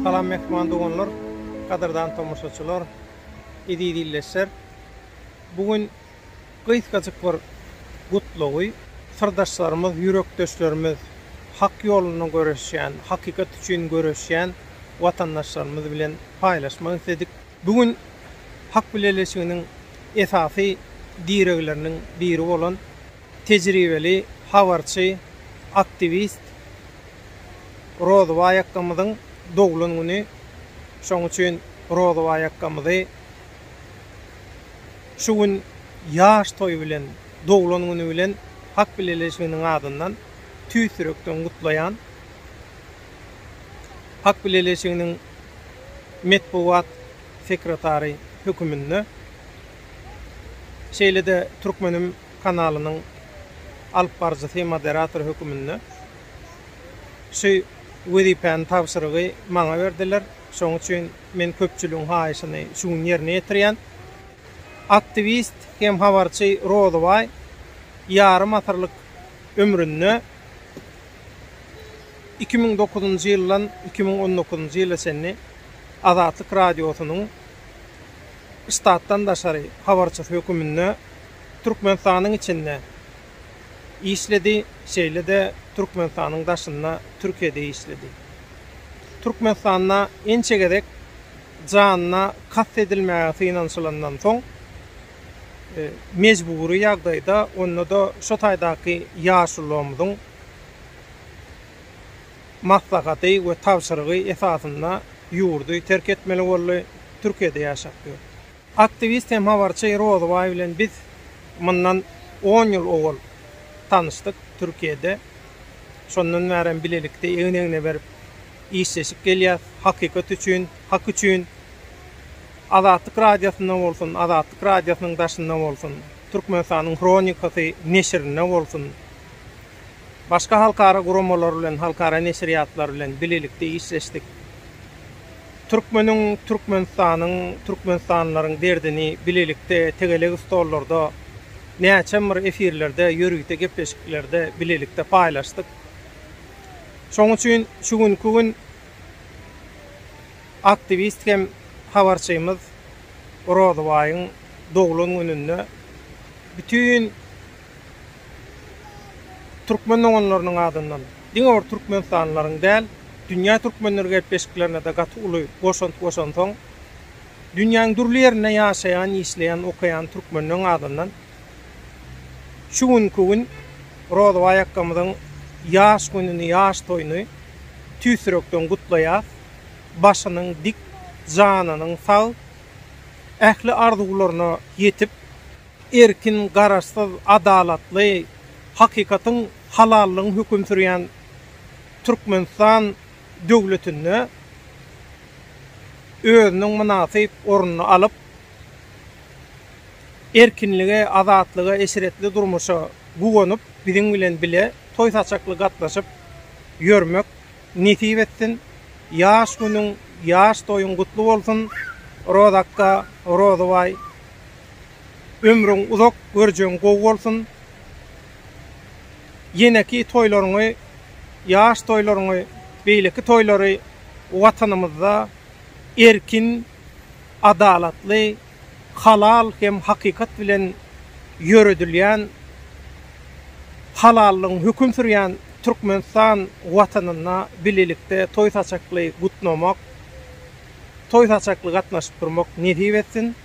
Salam mehman doganlar, gadyrdan tomaşaçylar, eziz ildeşler. Bu gün gysgajyk bir gutlagy syrdaşlarymyz, ýürekdeşlerimiz, hak ýolunda göreşýän, hakykat üçin göreşýän watandaşlarymyz bilen paýlaşmak isledik. Bu gün Hak bileleşiginiň esasy diregleriniň biri bolan tejribeli habarçy, aktiwist Rozybaý akgamyzyň doglan güni. Şonuň üçin Rozybaý akgamyzy şu gün ýaş toýy bilen, doglan güni bilen Hak bileleşiginiň adyndan tüýs ýürekden gutlaýan. Ak bileleşiginiň metbugat sekretary höküminde, şeýle-de Türkmenim kanalynyň alyp baryjysy, moderator höküminde şu wezipäni, tabşyrygy maňa berdiler. Şonuň üçin men köpçüligiň haýyşyny şu gün ýerine ýetirýän. Aktiwist hem habarçy Rozybaý ýarym asyrlyk ömründe Iki müň dokuzynjy ýyldan iki müň on dokuzynjy ýyla çenli Azatlyk Radiosynyň ştatdan daşary habarçysy höküminde Türkmenistanyň içinde işledi, şeýle-de Türkmenistanyň daşynda Türkiýede işledi. Türkmenistanda ençe gezek janyna kast edilmäge synanyşylandan soň, mejbury ýagdaýda, onda-da şo taýdaky ýaşululammyzyň maslahaty we tabşyrygy esasynda ýurdy terk etmeli boldy, Türkiýede ýaşap ýör. Aktiwist hem habarçy Rozybaý bilen biz mundan on ýyl owal tanyşdyk Türkiýede. Şondan bärem bilelikde egin-egne berip işleşip gelýäs, hakykat üçin, hak üçin. Azatlyk Radiosynda bolsun, Azatlyk Radiosynyň daşynda bolsun, Türkmenistanyň Hronikasy neşirinde bolsun, Başga halkara guramalar bilen, halkara neşirýatlar bilen bilelikde işleşdik. Türkmeniň, Türkmenistanyň, türkmenistanlylaryň derdini bilelikde tegelek stollarda, näçem bir efirlerde, ýörite gepleşiklerde bilelikde paýlaşdyk. Şonuň üçin şu günki gün aktiwist hem habarçymyz Rozybaýyň doglan gününde bütin Türkmen doganlarynyň adyndan diňe bir türkmenistanlylaryň däl, dünýä türkmenleri gepleşiklerine-de gaty uly goşant goşansoň, dünýäň dürli ýerinde ýaşaýan, işleýän, okaýan türkmenleň adyndan şu günki gün Rozybaý akgamyzyň ýaş gününi, ýaş toýuny tüýs ýürekden gutlaýas. Başynyň dik, janynyň sag, ähli arzuwlaryna ýetip, Erkin, garaşsyz, adalatly, hakykatyň, halallygyň höküm sürýän Türkmenistan döwletinde özüniň mynasyp ornuny alyp, erkinlige, azatlyga, eşretli durmuşa guwanyp, biziň bilen bile toý-saçakly gatnaşyp ýörmek nesip etsin! Ýaş günüň, ýaş toýuň gutly bolsun, Rozakka, Rozybaý! Ömrüň uzak görjegiň gowy bolsun. Ýeneki toýlaryňy ýaş toýlaryňy beýleki toýlary watanymyzda erkin adalatly halal hem hakykat bilen ýöredilýän halallygyň höküm sürýän Türkmenistan watanynda bilelikde toý saçakly gutlamak toý saçakly gatnaşyp durmak nesip etsin.